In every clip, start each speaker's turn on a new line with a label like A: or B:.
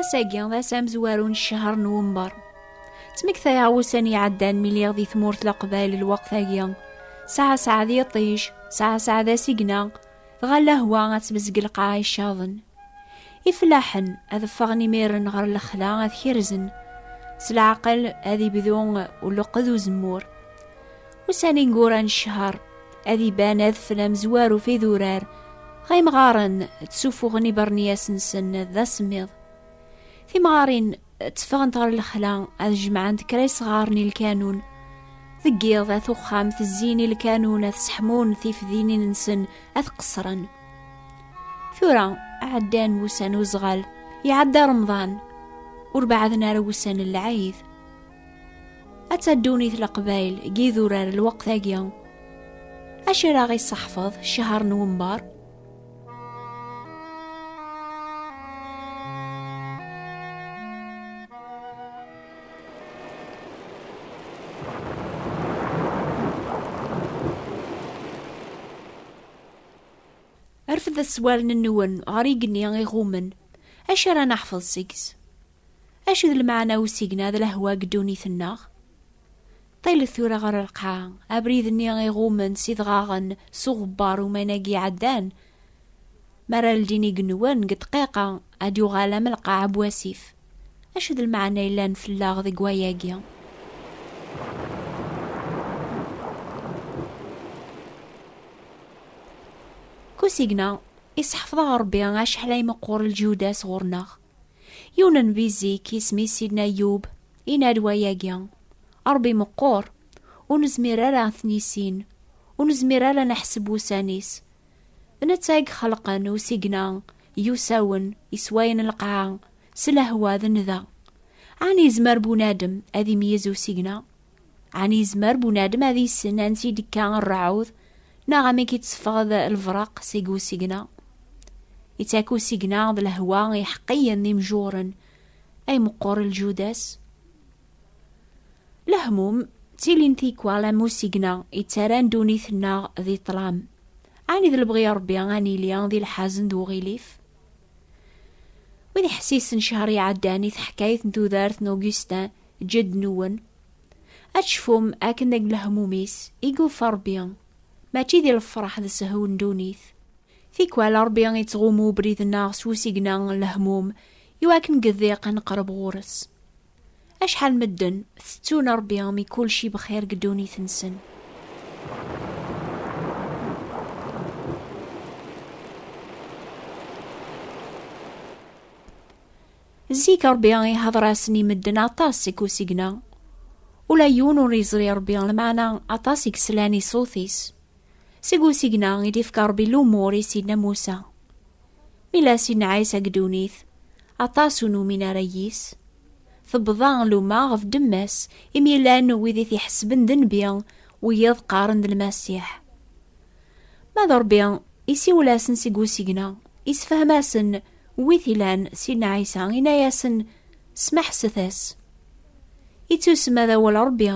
A: Ass-agi d ass amezwaru n ccehṛ n Wember. Ttmektayeɣ ussan iɛeddan mi lliɣ di tmurt Leqbayel lweqt-agi. Saɛa saɛa d iṭij, saɛa saɛa d asigna, dɣa lehwa ad tbezg lqaɛa icaḍen. Ifellaḥen ad ffɣen imiren ɣer lexla ad kerzen. S leɛqel ad ibdu uleqqed uzemmur. Ussan ineggura n ccher, ad iban adfel amezwar uf idurar, ɣa imɣaren ttsufuɣen ibernyas-nsen d asemmiḍ. Timɣarin tteffɣent ɣer lexla ad jemɛent kra isɣaren i lkanun. Deg yiḍ at uxxam tezzin i lkanun ad seḥmun tifdinin-nsen ad qeṣṣren. Tura ɛeddan wussan uzɣal, iɛedda remḍan, ur baɛden ara wussan n lɛid. Ad taddunit leqbayl n yidurar lweqt-agi. Acu ara ɣ-iseḥfeḍ ccehṛ n wember? Rfed aswalen-nwen ɣer yigenni iɣummen. Acu ara neḥfeḍ seg-s? Acu d lmeɛna n usigna d lehwa deg ddunit-nneɣ? Ṭilet tura ɣer lqaɛa, abrid-nni iɣummen s idɣaɣen s uɣebbar uman-agi iɛeddan, mi ara ldin igenwan deg ddqiqa, ad d-yuɣal am lqaɛa n wasif. Acu d lmeɛna yellan fell-aɣ deg wayagi? Deg usigna, isseḥfeḍ-aɣ Ṛebbi acḥal ay meqqur lǧyud-as ɣur-neɣ. Yiwen n bizik isem-is Sidna Yub, inarwa-agi, Ṛebbi meqqur, ur nezmir ara ad t-nissin, ur nezmir ara ad neḥseb ussan-is. D netta i ixelqen usigna yusawen, iswayen lqaɛa, s lehwa d nnda. Ɛni yezmer bunadem ad imeyyez usigna Ɛni yezmer bunadem ad yessen ansi i d-ikka rrɛud, neɣ amek i d-teffeɣ lefraq seg usigna? Ittak usigna d lehwa iḥeqqiyen d imjuren, ay meqqur ljudas. Lehmum, ttilin tikwal am usigna yettaran ddunit-nneɣ di ṭṭlam. Ɛni d lebɣi Ṛebbi ad nili di lḥazen d uɣilif? Wid iḥessisen ccher iɛeddan i teḥkayt n tudert n Augustin Ǧǧed-nwen, ad tecfum akken deg lehmum-is i yufa Ṛebbi, mačči di lefreḥ d sehwu n ddunit. Tikwal Ṛebbi ittɣummu ubrid-nneɣ s usigna n lehmum iwakken deg ddiq neqreb ɣur-s. Acḥal n medden tettun Ṛebbi mi kulci bxir deg ddunit-nsen. Zik Ṛebbi iḥaḍer-asen i medden aṭas seg usigna. Ula yiwen ur yeẓri Ṛebbi lmeɛna aṭas i yeslan i ṣṣut-is. Seg usigna i d-ifka Ṛebbi lumur i Sidna Musa. Mi la Sidna Ɛisa deg ddunit, aṭas ur numin ara yis. Tebḍa luma ɣef ddemma-s imi yellan wid i t-iḥesben d nnbi, wiyiḍ qqaren d Lmasiḥ. Ma d Ṛebbi, isiwel-asen seg usigna, isefhem-asen Wi t-ilan Sidna Ɛisa, ina-yasen, Smeḥset-as. I tusma d awal Ṛebbi,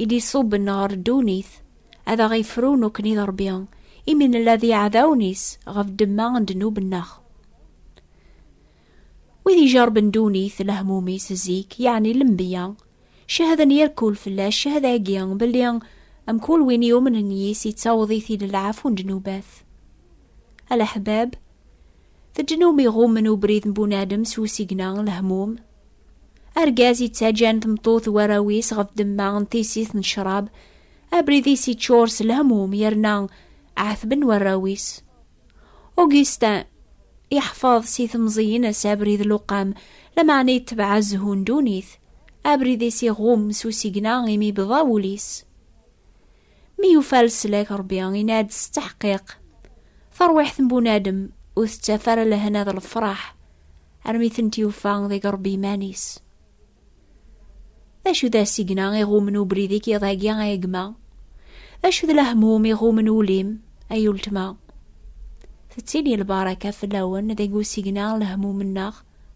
A: i d-iṣubben ɣer ddunit, ad aɣ-ifru nekkni d Ṛebbi, imi nella d iɛdawen-is ɣef ddemma n ddnub-nneɣ. Wid ijerben ddunit, lehmum-is zik, yeɛni lenbiya, cehden yir kul fell-as ccehda-agi, belli mkul win yumnen yis ittaweḍ-it-id lɛafu n ddnubat. A leḥbab, Teǧǧen umi ɣummen ubrid n bunadem s usigna n lehmum. Argaz yettaǧǧan tmeṭṭut warraw-is ɣef demma n tissit n ccrab, abrid-is yeččur s lehmum yerna ɛetben warraw-is. Augustin yeḥfeḍ si temẓi-ines abrid luqam, lameɛna yetbeɛ azhu n ddunit. Abrid-is iɣum s usigna imi yebḍa wul-is. Mi yufa leslak Rebbi yenna-d s teḥqiq, tarwiḥt n bunadem ur tettaf ara lehna d lefraḥ armi tent-yufa deg Rebbi iman-is. D acu d asigna iɣumen ubrid i k-iḍagi ay gma? D acu d lehmum iɣumen ul-im ay ultma? Tettili lbaraka fell-awen deg usigna n lehmum-nneɣ,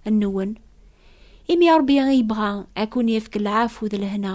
A: nwen, imi Rebbi yebɣa ad kun-yefk lɛafu d lehna.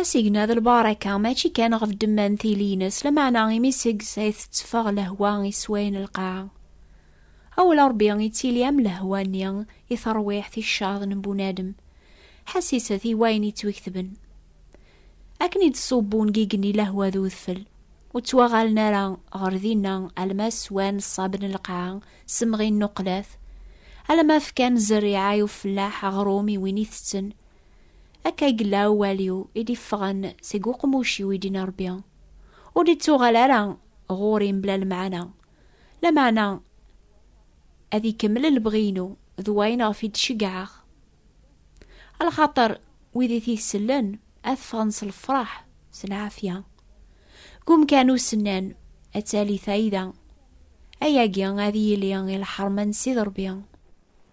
B: Asigna
A: d lbaraka mačči kan ɣef ddemma n tili-ines, lameɛna imi seg-s ay tetteffeɣ lehwa i sswayen lqaɛa. Awal Ṛebbi yettili am lehwa-nni i terwiḥt icaḍ n bunadem, ḥassiset i wayen yettwiketben. Akken i d-ṣṣub ungigen i lehwa d udfel, ur ttwaɣalen ara ɣer dinna alma swan ṣṣab n lqaɛa, semɣin n uqlat, alama fkan zzerriɛa i ufellaḥ aɣrum i win itetten, Akka i yella awal-iw i d-iffɣen seg uqmuc-iw i d-inna Rebbi. Ur d-ittuɣal ara ɣur-i mebla lemɛana. Lameɛna ad ikemmel lebɣi-inu d wayen ɣef i d-ceggɛeɣ. A lxaṭer wid i t-isellen ad ffɣen s lefraḥ s lɛafya. Deg umkan usennan ad tali fayda. Ayagi ad yili i lḥerma n Sidi Rebbi.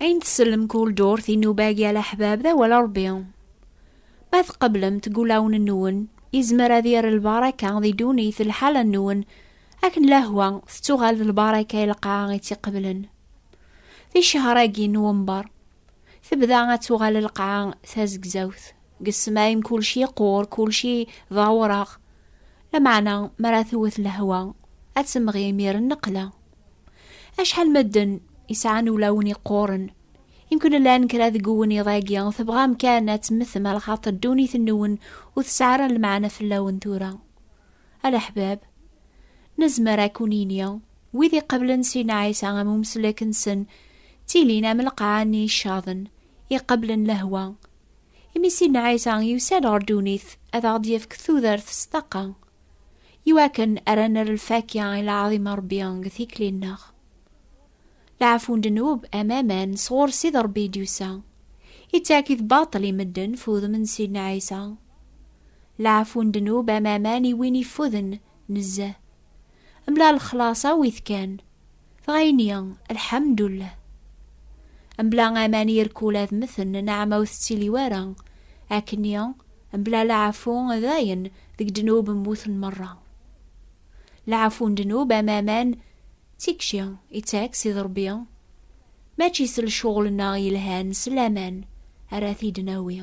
A: Ayen tsellem kul ddurt i nubag yal aḥbab d awal Ṛebbi. Ma tqeblemt gulawen-nwen, yezmer ad yerr lbaraka di ddunit lḥala-nwen, akken lehwa tettuɣal d lbaraka i lqaɛa i tt-iqeblen. Di ccehṛ-agi n Nwembeṛ, tebda ad tuɣal lqaɛa tazegzawt. Deg ssmai kulci iqur, kulci d awṛaɣ, lameɛna mi ara tewwet lehwa, ad temɣi imir n nneqla. Acḥal medden yesɛan ulawen iqquren. Yemkun llan kra deg uwennid-agi tebɣam kan ad temmtem ar xaṭer ddunit-nwen ur tesɛi ara lmeɛna fell-awen tura. A leḥbab, nezmer ad kun-ini, wid iqeblen Sidna Ɛisa am umesslek-nsen, ttilin am lqaɛa-nni icaḍen, iqeblen lehwa. Imi Sidna Ɛisa yusa-d ɣer ddunit ad aɣ-d-yefk tudert s ṭṭaqa. iwakken ara nerr lfakya i lɛaḍim n Rebbi deg tikli-nneɣ. Leɛfu n ddnub am aman sɣur Ssid Rebbi i d-yusa, ittak-it baṭel i medden f udem n Sidna Ɛisa. Leɛfu n ddnub am aman i win iffuden nezzeh, mebla lexlaṣ awit kan. Tɣayni, lḥamdullah. Mbla aman irkul ad meten, naɛma ur tettili wara. Akni, mbla laɛfu dayen deg ddnub mmuten merra. Laɛfu n ddnub am aman d tikci i ttak si d Rebbi, mačči s lcuɣel-nneɣ yelhan s laman ara t-id-nawi.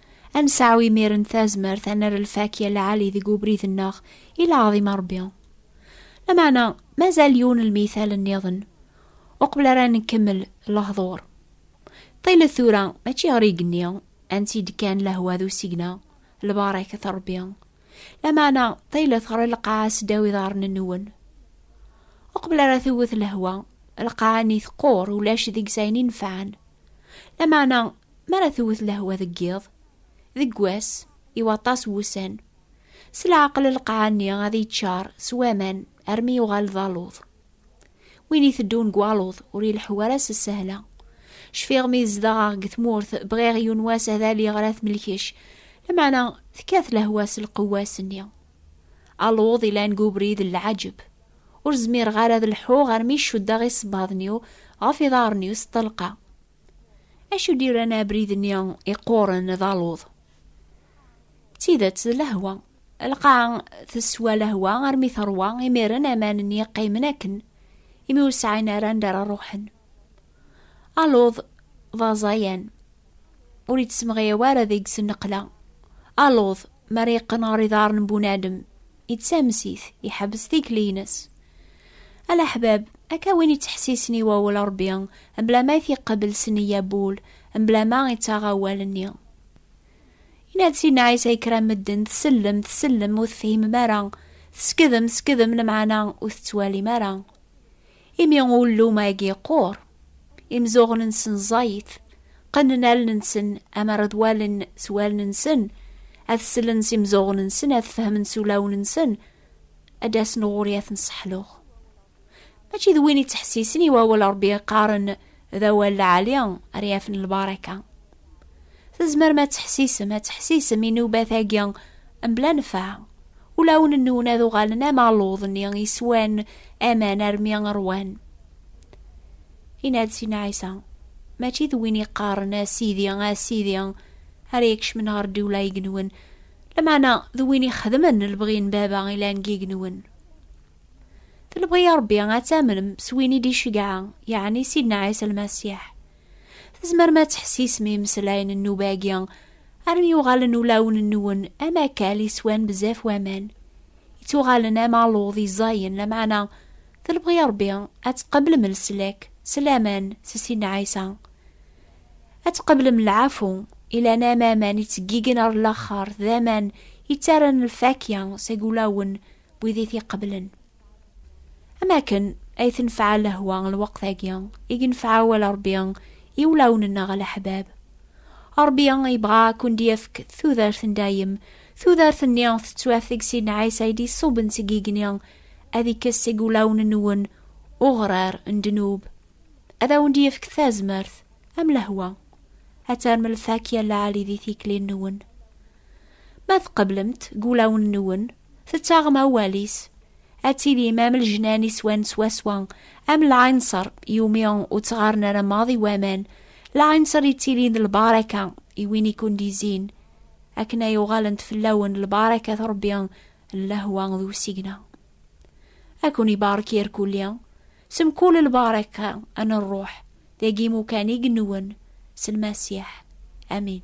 A: Ad nesɛu imiren tazmert ad nerr lfakya lɛali deg ubrid-nneɣ i lɛaḍim a Rebbi. Lameɛna mazal yiwen lmithal nniḍen uqbel ara nkemmel lehḍur. Ṭilet tura mačči ɣer igenni ansi-d kan lehwa d usigna, lbaṛakat a Rebbi. Lameɛna ṭilet ɣer lqaɛa seddaw iḍarren-nwen. Uqbel ara tewwet lehwa, lqaɛa-nni teqqur ulac deg-s ayen inefɛen. Lameɛna Mi ara tewwet lehwa deg yiḍ, deg wass, i waṭas wussan, s leɛqel lqaɛa-nni ad yeččar s waman armi yuɣal d aluḍ. Win iteddun deg waluḍ ur ileḥḥu ara s ssehla. Cfiɣ mi zedɣeɣ deg tmurt bɣiɣ yiwen wass ad aliɣ ɣer At Melkec, lameɛna tekkat lehwa s lqewwa ass-nni. Aluḍ ilan deg ubrid n leɛǧeb. Ur zmireɣ ara ad leḥḥuɣ armi cuddeɣ isebbaḍen-iw ɣef iḍarren-iw s ṭṭelqa. Acu d-iran abrid-nni iqquren d aluḍ? D tidet d lehwa. Lqaɛa teswa lehwa armi teṛwa, imiren aman-nni qqimen akken, imi ur sɛin ara anda ara ruḥen. Aluḍ d aẓayan, ur ittemɣiyaw ara deg-s nneqla. Aluḍ, mi ara yeqqen ɣer iḍarren n bunadem, yettames-it, iḥebbes tikli-ines. Alaḥbab, akka win yettḥessisen i wawal Ṛebbi, mebla ma it-iqebbel s neyya n wul, mebla ma ittaɣ awal-nni. Yenna-d Sidna Ɛisa i kra n medden, tsellem, tsellem, ur tefhimem ara, teskedem, teskedem, lemɛana ur tettwalim ara. Imi ullum-agi yeqqur, imzuɣen-nsen ẓẓayit, qqnen allen-nsen amar ad walen s wallen-nsen, ad sellen s imzuɣen-nsen, ad fehmen s ulawen-nsen, ad d-asen ɣur-i ad ten-sseḥluɣ. Mačči d win yettḥessisen i wawal Ṛebbi yeqqaren, d awal lɛali ara yafen lbaraka. Tezmerem ad teḥsisem, ad teḥsisem inubat-agi mebla nfeɛ. Ulawen-nwen ad uɣalen am aluḍ-nni iswan aman armi rwan. Inna-d Sina Ɛisa, mačči d win iqqaren a Sidi, a Sidi, ara ikecmen ɣer ddiwla igenwen, lameɛna d win ixedmen lebɣi n baba ilan deg igenwen. Telbɣi a Ṛebbi ad tamnem s win i d-icegɛa, yeɛni Sidna Ɛisa Lmasiḥ. Tzemrem ad teḥsisem imeslayen n nnuba-agi, armi yuɣalen ulawen-nwen am akal yeswan bezzaf waman. Ittuɣalen am aluḍ yeẓẓayen, lameɛna telbɣi a Ṛebbi ad tqeblem leslak s laman s Sidna Ɛisa. Ad tqeblem lɛafu, ilan am aman ittggigen ar laxert, d aman yettaran lfakya seg ulawen wid i t-iqeblen. Am akken ay tenfeɛ lehwa lweqt-agi i yenfeɛ awal Ṛebbi i wulawen-nneɣ a leḥbab. Ṛebbi yebɣa ad ken-d-yefk tudert n dayem. Tudert-nni tettwaf deg Sidna Ɛisa i d-iṣubben seg yigenni, ad ikkes seg wulawen-nwen uɣrar n ddnub, ad awen-d-yefk tazmert am lehwa, ad terrem lfakya n lɛali di tikli-nwen. Ma tqeblemt deg wulawen-nwen, Tettaɣem awal-is. Ad tilim am lejnan iswan swaswa, am lɛinṣer yumi ur ttɣaren ara maḍi waman, lɛinṣer yettilin d lbaraka i win i kundizin, akken ay uɣalent fell-awen lbaraka tṛebbi n lehwa d usigna. Ad ken-ibarek irkulli, s mkul lbaraka n ṛṛuḥ, dagi imukan i yenwen, s lmasiḥ. Amin.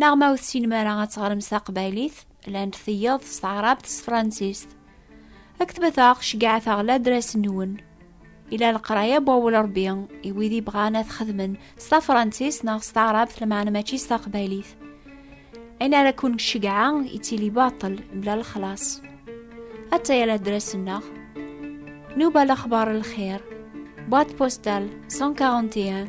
A: Neɣ ma ur tessinem ara ad teɣrem s taqbaylit, llant tiyaḍ s taɛrabt s tefransist. Ad ketbeteɣ, ceggɛet-aɣ ladras-nwen. Ila leqraya n wawal Ṛebbi i wid ibɣan ad xedmen s tafransist neɣ s taɛrabt lmeɛna mačči s taqbaylit. Ayen ara ken-ceggɛeɣ yettili baṭel mebla lexlaṣ. Attaya ladras-nneɣ. Nuba lexbar lxir. Boîte postale 141